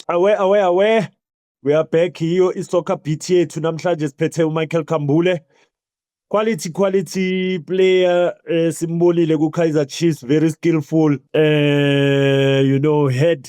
Awe awe awe we are back hiyo isoccer beat yethu namhlanje siphethe uMichael Kambule quality quality player eh, simbonile ku Kaizer Chiefs very skillful eh you know head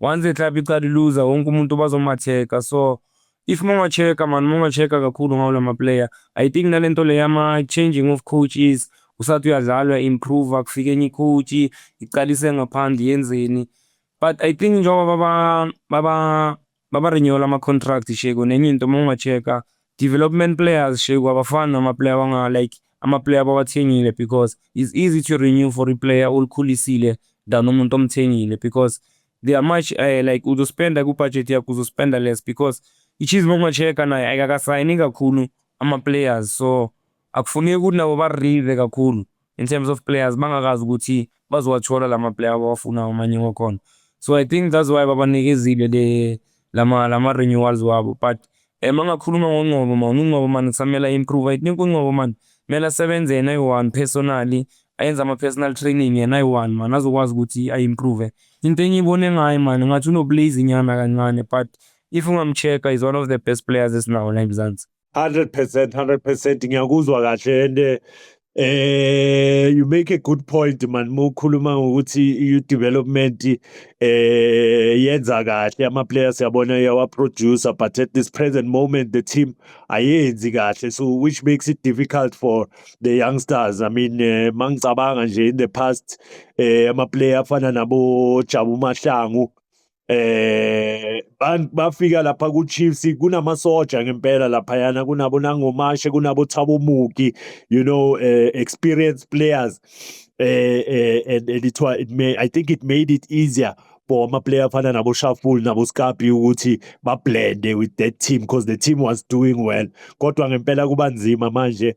Once the club iqala iluza wonke umuntu bazomatheka so if mongacheka mani mongacheka kakhulu ngawo lama player i think nalento le yama changing of coaches usathi uyadlalwa improve kufike enye coach iqalise ngaphandle yenzeni but i think njengoba baba baba baba renewal ama contract sheko nenye into mongacheka Development players sheku abafani nama player wanga like ama player abawathengile because is easy to renew for i player olikhulisile than umuntu omthengile because they are much uh, like uzospenda ku budget yakho uzospenda less because iChiefs uma check naye ayikakasayini kakhulu ama players so Akufuneki ukuthi nabo barrive kakhulu in terms of players bangakazi ukuthi bazowathola lama player abawafunayo amanye wakhona. So I think that's why babanikezile le lama lama renewals wabo but eh mangakhuluma ngoNgcobo man uNgcobo man kusamela improve. I think uNgcobo man mela sebenze yena ayi-one personally ayenza ama-personal training yena ayi-one man azokwazi ukuthi ayi-improve into engiyibone ngayo mani ngathi unoblaze nyana kancane but if ungamcheck is one of the best players esinawo la emzansi 100 percent 100 percent ngiyakuzwa kahle and eh, Eh you make a good point man mukhuluma ngokuthi you development eh yenza kahle ama players yabona yawa producer but at this present moment the team ayenzi kahle so which makes it difficult for the youngsters i mean eh, mangicabanga nje in the past eh ama player afana nabo Jabu Mahlangu Eh bafika lapha ku Chiefs kunamasoja ngempela laphayana kunabo nangomashe kunabo Thabo Muki you know uh, experienced players uh, uh, and, and it, it may I think it made it easier for ama player afana nabo Shaful nabo Skapi ukuthi ba blende with that team because the team was doing well kodwa ngempela kubanzima manje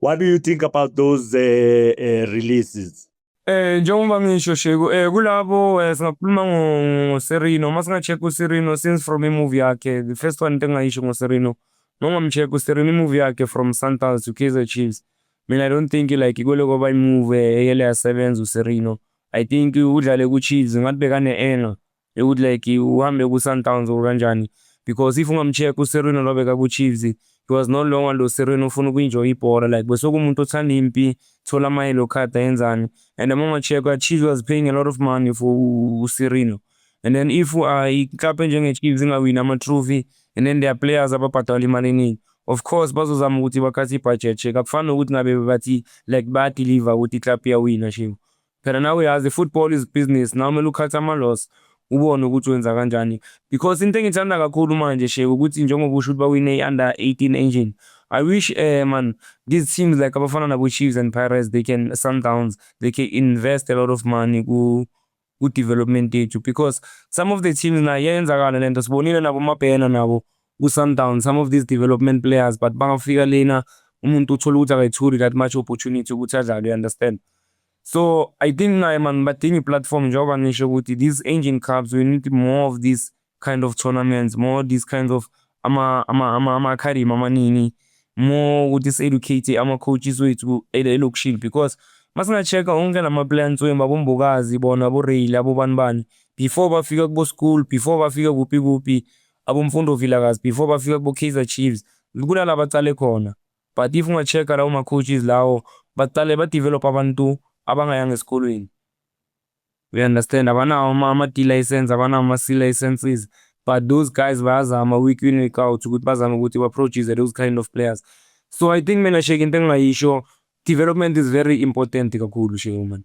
What do you think about those uh, uh, releases? Eh njengoba ngisho Sheku eh kulabo eh, singakhuluma ngo ngo Serino uma singa-check uSerino since from i-movie yakhe the first one into engingayisho ngoSerino nongamcheck uSerino i-movie yakhe from Sundowns to Kaizer Chiefs mina I don't think like ikole kwaba i-movie eyele yasebenza uSerino I think udlale ku-Chiefs ngathi bekane-anger Eyi ukuthi like uhambe kuSundowns or kanjani because if ungamcheck uSerwin olobeka kuChiefs he was no longer lo Serwin ofuna uku-enjoy ibhola like besekumuntu othanda impi thola ama-yellow card ayenzani and uma ungacheck-a Chiefs was paying a lot of money for uSerwin and then if uh, i-club enjenge-Chiefs ingawini ama-trophy and then their players ababhadala imali eningi of course bazozama ukuthi bakhathe i-budget check akufani nokuthi ngabe bathi like bayadeliver ukuthi i-club iyawina shimo Phela nawe uyazi football is business nawe kumele ukhathe ama loss ubone ukuthi wenza kanjani because into engithanda kakhulu manje sheka ukuthi njengoba usho ukuthi bawine i-under 18 engine I wish uh, man these teams like abafana nabo Chiefs and Pirates they can Sundowns they can invest a lot of money ku ku development yethu because some of the teams nayo yenzakala lento sibonile nabo mabhena nabo kuSundowns some of these development players but bangafika lena umuntu uthola ukuthi akayitholi that much opportunity ukuthi adlale you understand so i think naye man badinga iplatform njengoba ngisho ukuthi these engine clubs we need more of these kind of tournaments more these kinds of ama ama ama ama academy amaningi more ukuthi si-educate ama-coaches wethu elokishini because masinga-check-a onke la ma-plans wemba bombokazi bona boreyile abobani bani before bafika kubo-school before bafika kuphi kuphi Abomfundo Vilakazi before bafika kubo Kaizer Chiefs kunala baqale khona but if unga checker lawo ma coaches lawo baqale ba develop abantu abangayanga esikolweni we understand abanawo ama ama D license abanawo ama C licenses but those guys bayazama week in week out ukuthi bazame ukuthi ba produce those kind of players so I think mina shake into engingayisho development is very important kakhulu shake man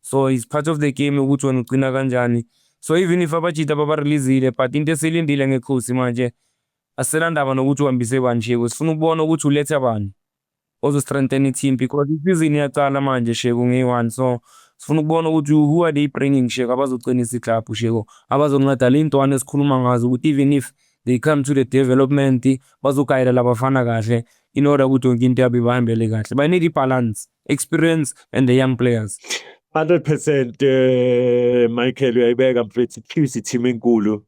So is part of the game ukuthi wena ugcina kanjani. So even if abajita babareleasile but into esilindile ngekhosi manje asilandaba nokuthi uhambise bani Sheku sifuna ukubona ukuthi uletha bani ozo strengthen i-team because isizini iyaqala manje Sheku ngeyi-one so sifuna ukubona ukuthi who are they bringing Sheku abazoqinisa iklabhu Sheku abazonceda le ntwana esikhuluma ngazo ukuthi even if they come to the development bazogayela labafana kahle in order ukuthi yonke into yabo ibahambele kahle bayinika i-balance experience and the young players 100% uh, Michael uyayibeka mfethu Chiefs team enkulu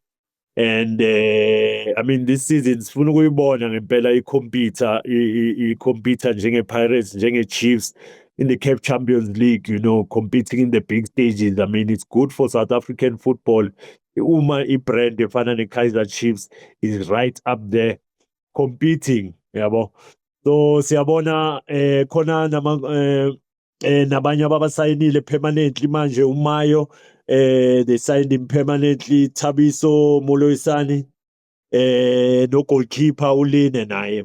and uh, i mean this season sifuna ukuyibona ngempela i-computer i-computer njenge-pirates njenge-chiefs in the CAF Champions League, you know, competing in the big stages. I mean, it's good for South African football. Uma i-brand efana ne-Kaizer Chiefs is right up there competing yabo so siyabona eh khona nama eh, eh nabanye ababasayinile permanently manje umayo eh they signed him permanently Thabiso Moloisani eh no goalkeeper uline naye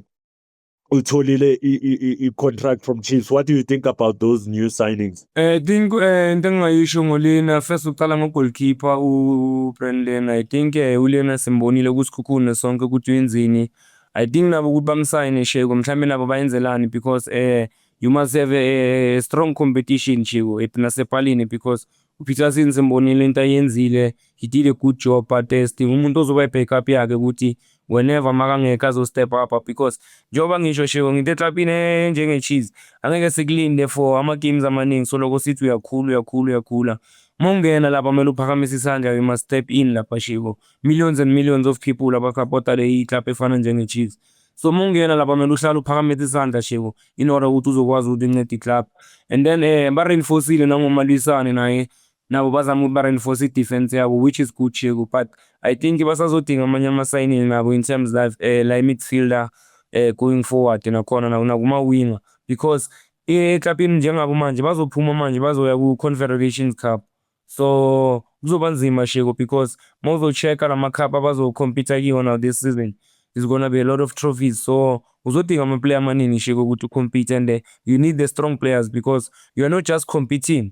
utholile i contract from Chiefs what do you think about those new signings Eh, think eh, into engingayisho ngolena first uqala ngogolkeeper ubrand lena i think eh, ulena simbonile kusikhukhune sonke ukuthi uyenzini i think nabo ukuthi bamsayine sheko mhlawumbe nabo bayenzelani because eh, you must have a, a strong competition sheko nasepalini because upeterson simbonile into ayenzile he did a good job but eh, still umuntu ozoba i-backup yakhe ukuthi whenever makangekho azo-step up because njengoba ngisho sheko nginte eklabhini enjenge-cheese angeke sikulinde for ama-games amaningi soloko sithi uyakhula uyakhula uyakhula uma ungena lapha kumele uphakamise isandla you must step in lapha sheko millions and millions of people abasapota leyi club efana njenge-cheese so uma ungena lapha kumele uhlale uphakamise isandla sheko in order ukuthi uzokwazi ukuthi uncede i-club and then um eh, ba-reinforcile nangomalwisane naye Nabo bazama ukuthi ba reinforce i defense yabo which is good Cheku but I think basazodinga amanye ama signing nabo in terms like eh, la midfielder eh, going forward nakhona na- nakuma winger because eklabini njengabo manje bazophuma manje bazoya ku Confederations Cup so kuzoba nzima Sheko because mawuzo checka lama cup abazo compete kiwona this season is gonna be a lot of trophies so uzodinga ama player amaningi Sheko ukuthi u compete and eh, you need the strong players because you are not just competing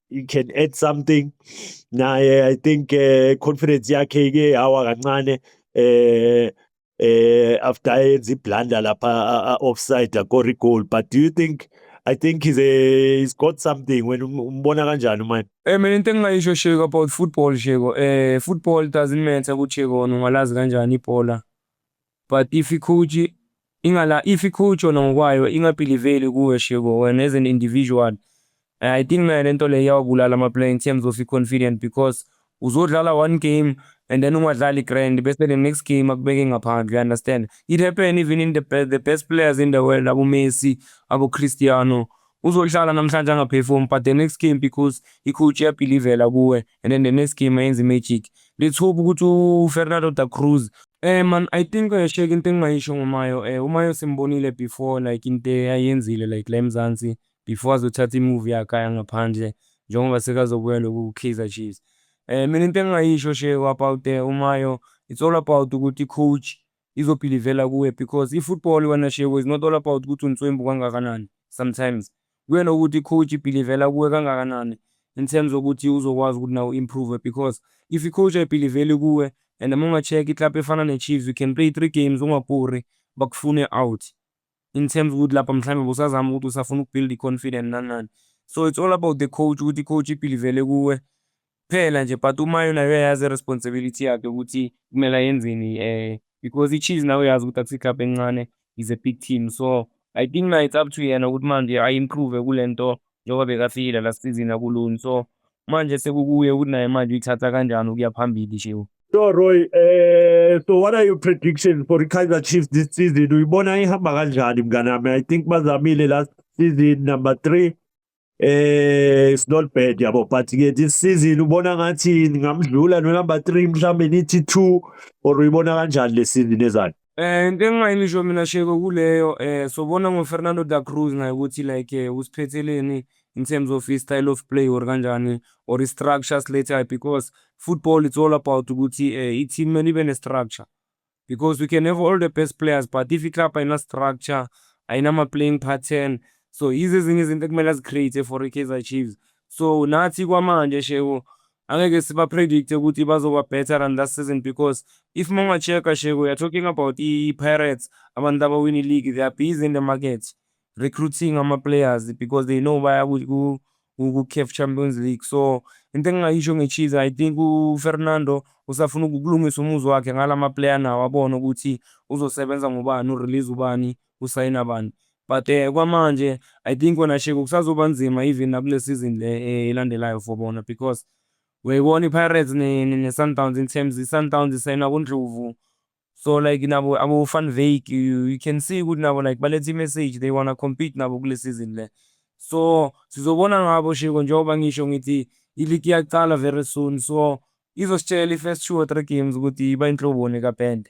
you can add something naye i think uh, confidence yakhe ke hawa kancane eh eh after yenza iblunder lapha offside akori goal but do you think I think he's a he's got something when umbona kanjani manje Eh mina into engingayisho Sheko about football Sheko eh football doesn't matter ukuthi Sheko ungalazi kanjani ibhola But if ikhuji ingala if ikhuji yona ngokwayo ingabhiliveli kuwe shebo wena as an individual eh, I think nayo lento le iyawabulala ama player in terms of i-confident because uzodlala one game and then ungadlali grand bese the next game akubeke ngaphandle you understand it happen even in the, be the best players in the world abo Messi abo Cristiano uzohlala namhlanje angaperform but the next game because ikhuji iyabhilivela kuwe and then the next game ayenza imagic let's hope ukuthi ufernando da cruz Eh man, I think eh, shake into engingayisho ngoMayo eh uMayo simbonile before like into ayenzile like la eMzansi before azothatha i-move yakhe aya ngaphandle njengoba sekazobuya lokhu ku-Kaizer Chiefs. Eh mina into engingayisho sheko about eh uMayo it's all about ukuthi i-coach Izo bhilivela kuwe because i football wena Shebu is not all about ukuthi unswembu kangakanani sometimes kuya nokuthi i coach ibhilivela kuwe kangakanani in terms okuthi uzokwazi ukuthi nawe u improve because if i coach ayibhiliveli kuwe and uma unga check i club efana ne Chiefs you can play three games ungapuri bakufune out in terms ukuthi lapha mhlawumbe busazama ukuthi usafuna ukubuild i-confident nani nani so it's all about the coach ukuthi i-coach ibhilivele kuwe kuphela nje but uma yona uyayazi i-responsibility yakhe ukuthi kumele ayenzeni um because i-cheese nawe uyazi ukuthi akusi-club encane is a big team so i think na it's up to yena ukuthi manje ayi-improve kule nto njengoba bekafikile la season akulungi so manje sekukuye ukuthi naye manje uyithatha kanjani ukuya phambili shewu So Roy, eh so what are your predictions for Kaizer Chiefs this season? Uyibona ihamba kanjani mngane wami? I think bazamile last season number 3. Eh it's not bad yabo but ke this season ubona ngathi ngamdlula no number 3 mhlambe nithi 2 or uyibona kanjani le season ezayo? Eh into engingayisho mina Sheko kuleyo eh sobona ngo Fernando da Cruz naye ukuthi like eh, usiphetheleni in terms of his style of play or kanjani or his structure let's say because football it's all about ukuthi eh, i team mele ibe ne structure because we can have all the best players but if i-club ayina structure ayinama-playing pattern so yizo ezinye izinto ekumele azicreate for i-kaizer chiefs so nathi kwamanje sheko Angeke siba predict ukuthi bazoba better than last season because if mawunga check-a Shego you're talking about i-Pirates abantu abawina i-league they are busy in the market recruiting ama-players because they know baya ku-CAF Champions League so into engingayisho nge-Chiefs I think uFernando usafuna ukulungisa umuzi wakhe ngala ma-player nawo abone ukuthi uzosebenza ngobani u-release ubani usayina abantu but um kwamanje I think wena Sheko kusazoba nzima even nakule season le eh, elandelayo for bona because uyayibona i-Pirates ne-Sundowns in terms i-Sundowns isayina kuNdlovu so like nabo abo-Van Wyk you, you can see ukuthi nabo like baletha i-message they wanna compete nabo kule season le so sizobona ngabo Sheko njengoba ngisho ngithi iligi iyaqala very soon so izositshela i-first two or three games ukuthi iba inhloboni kapende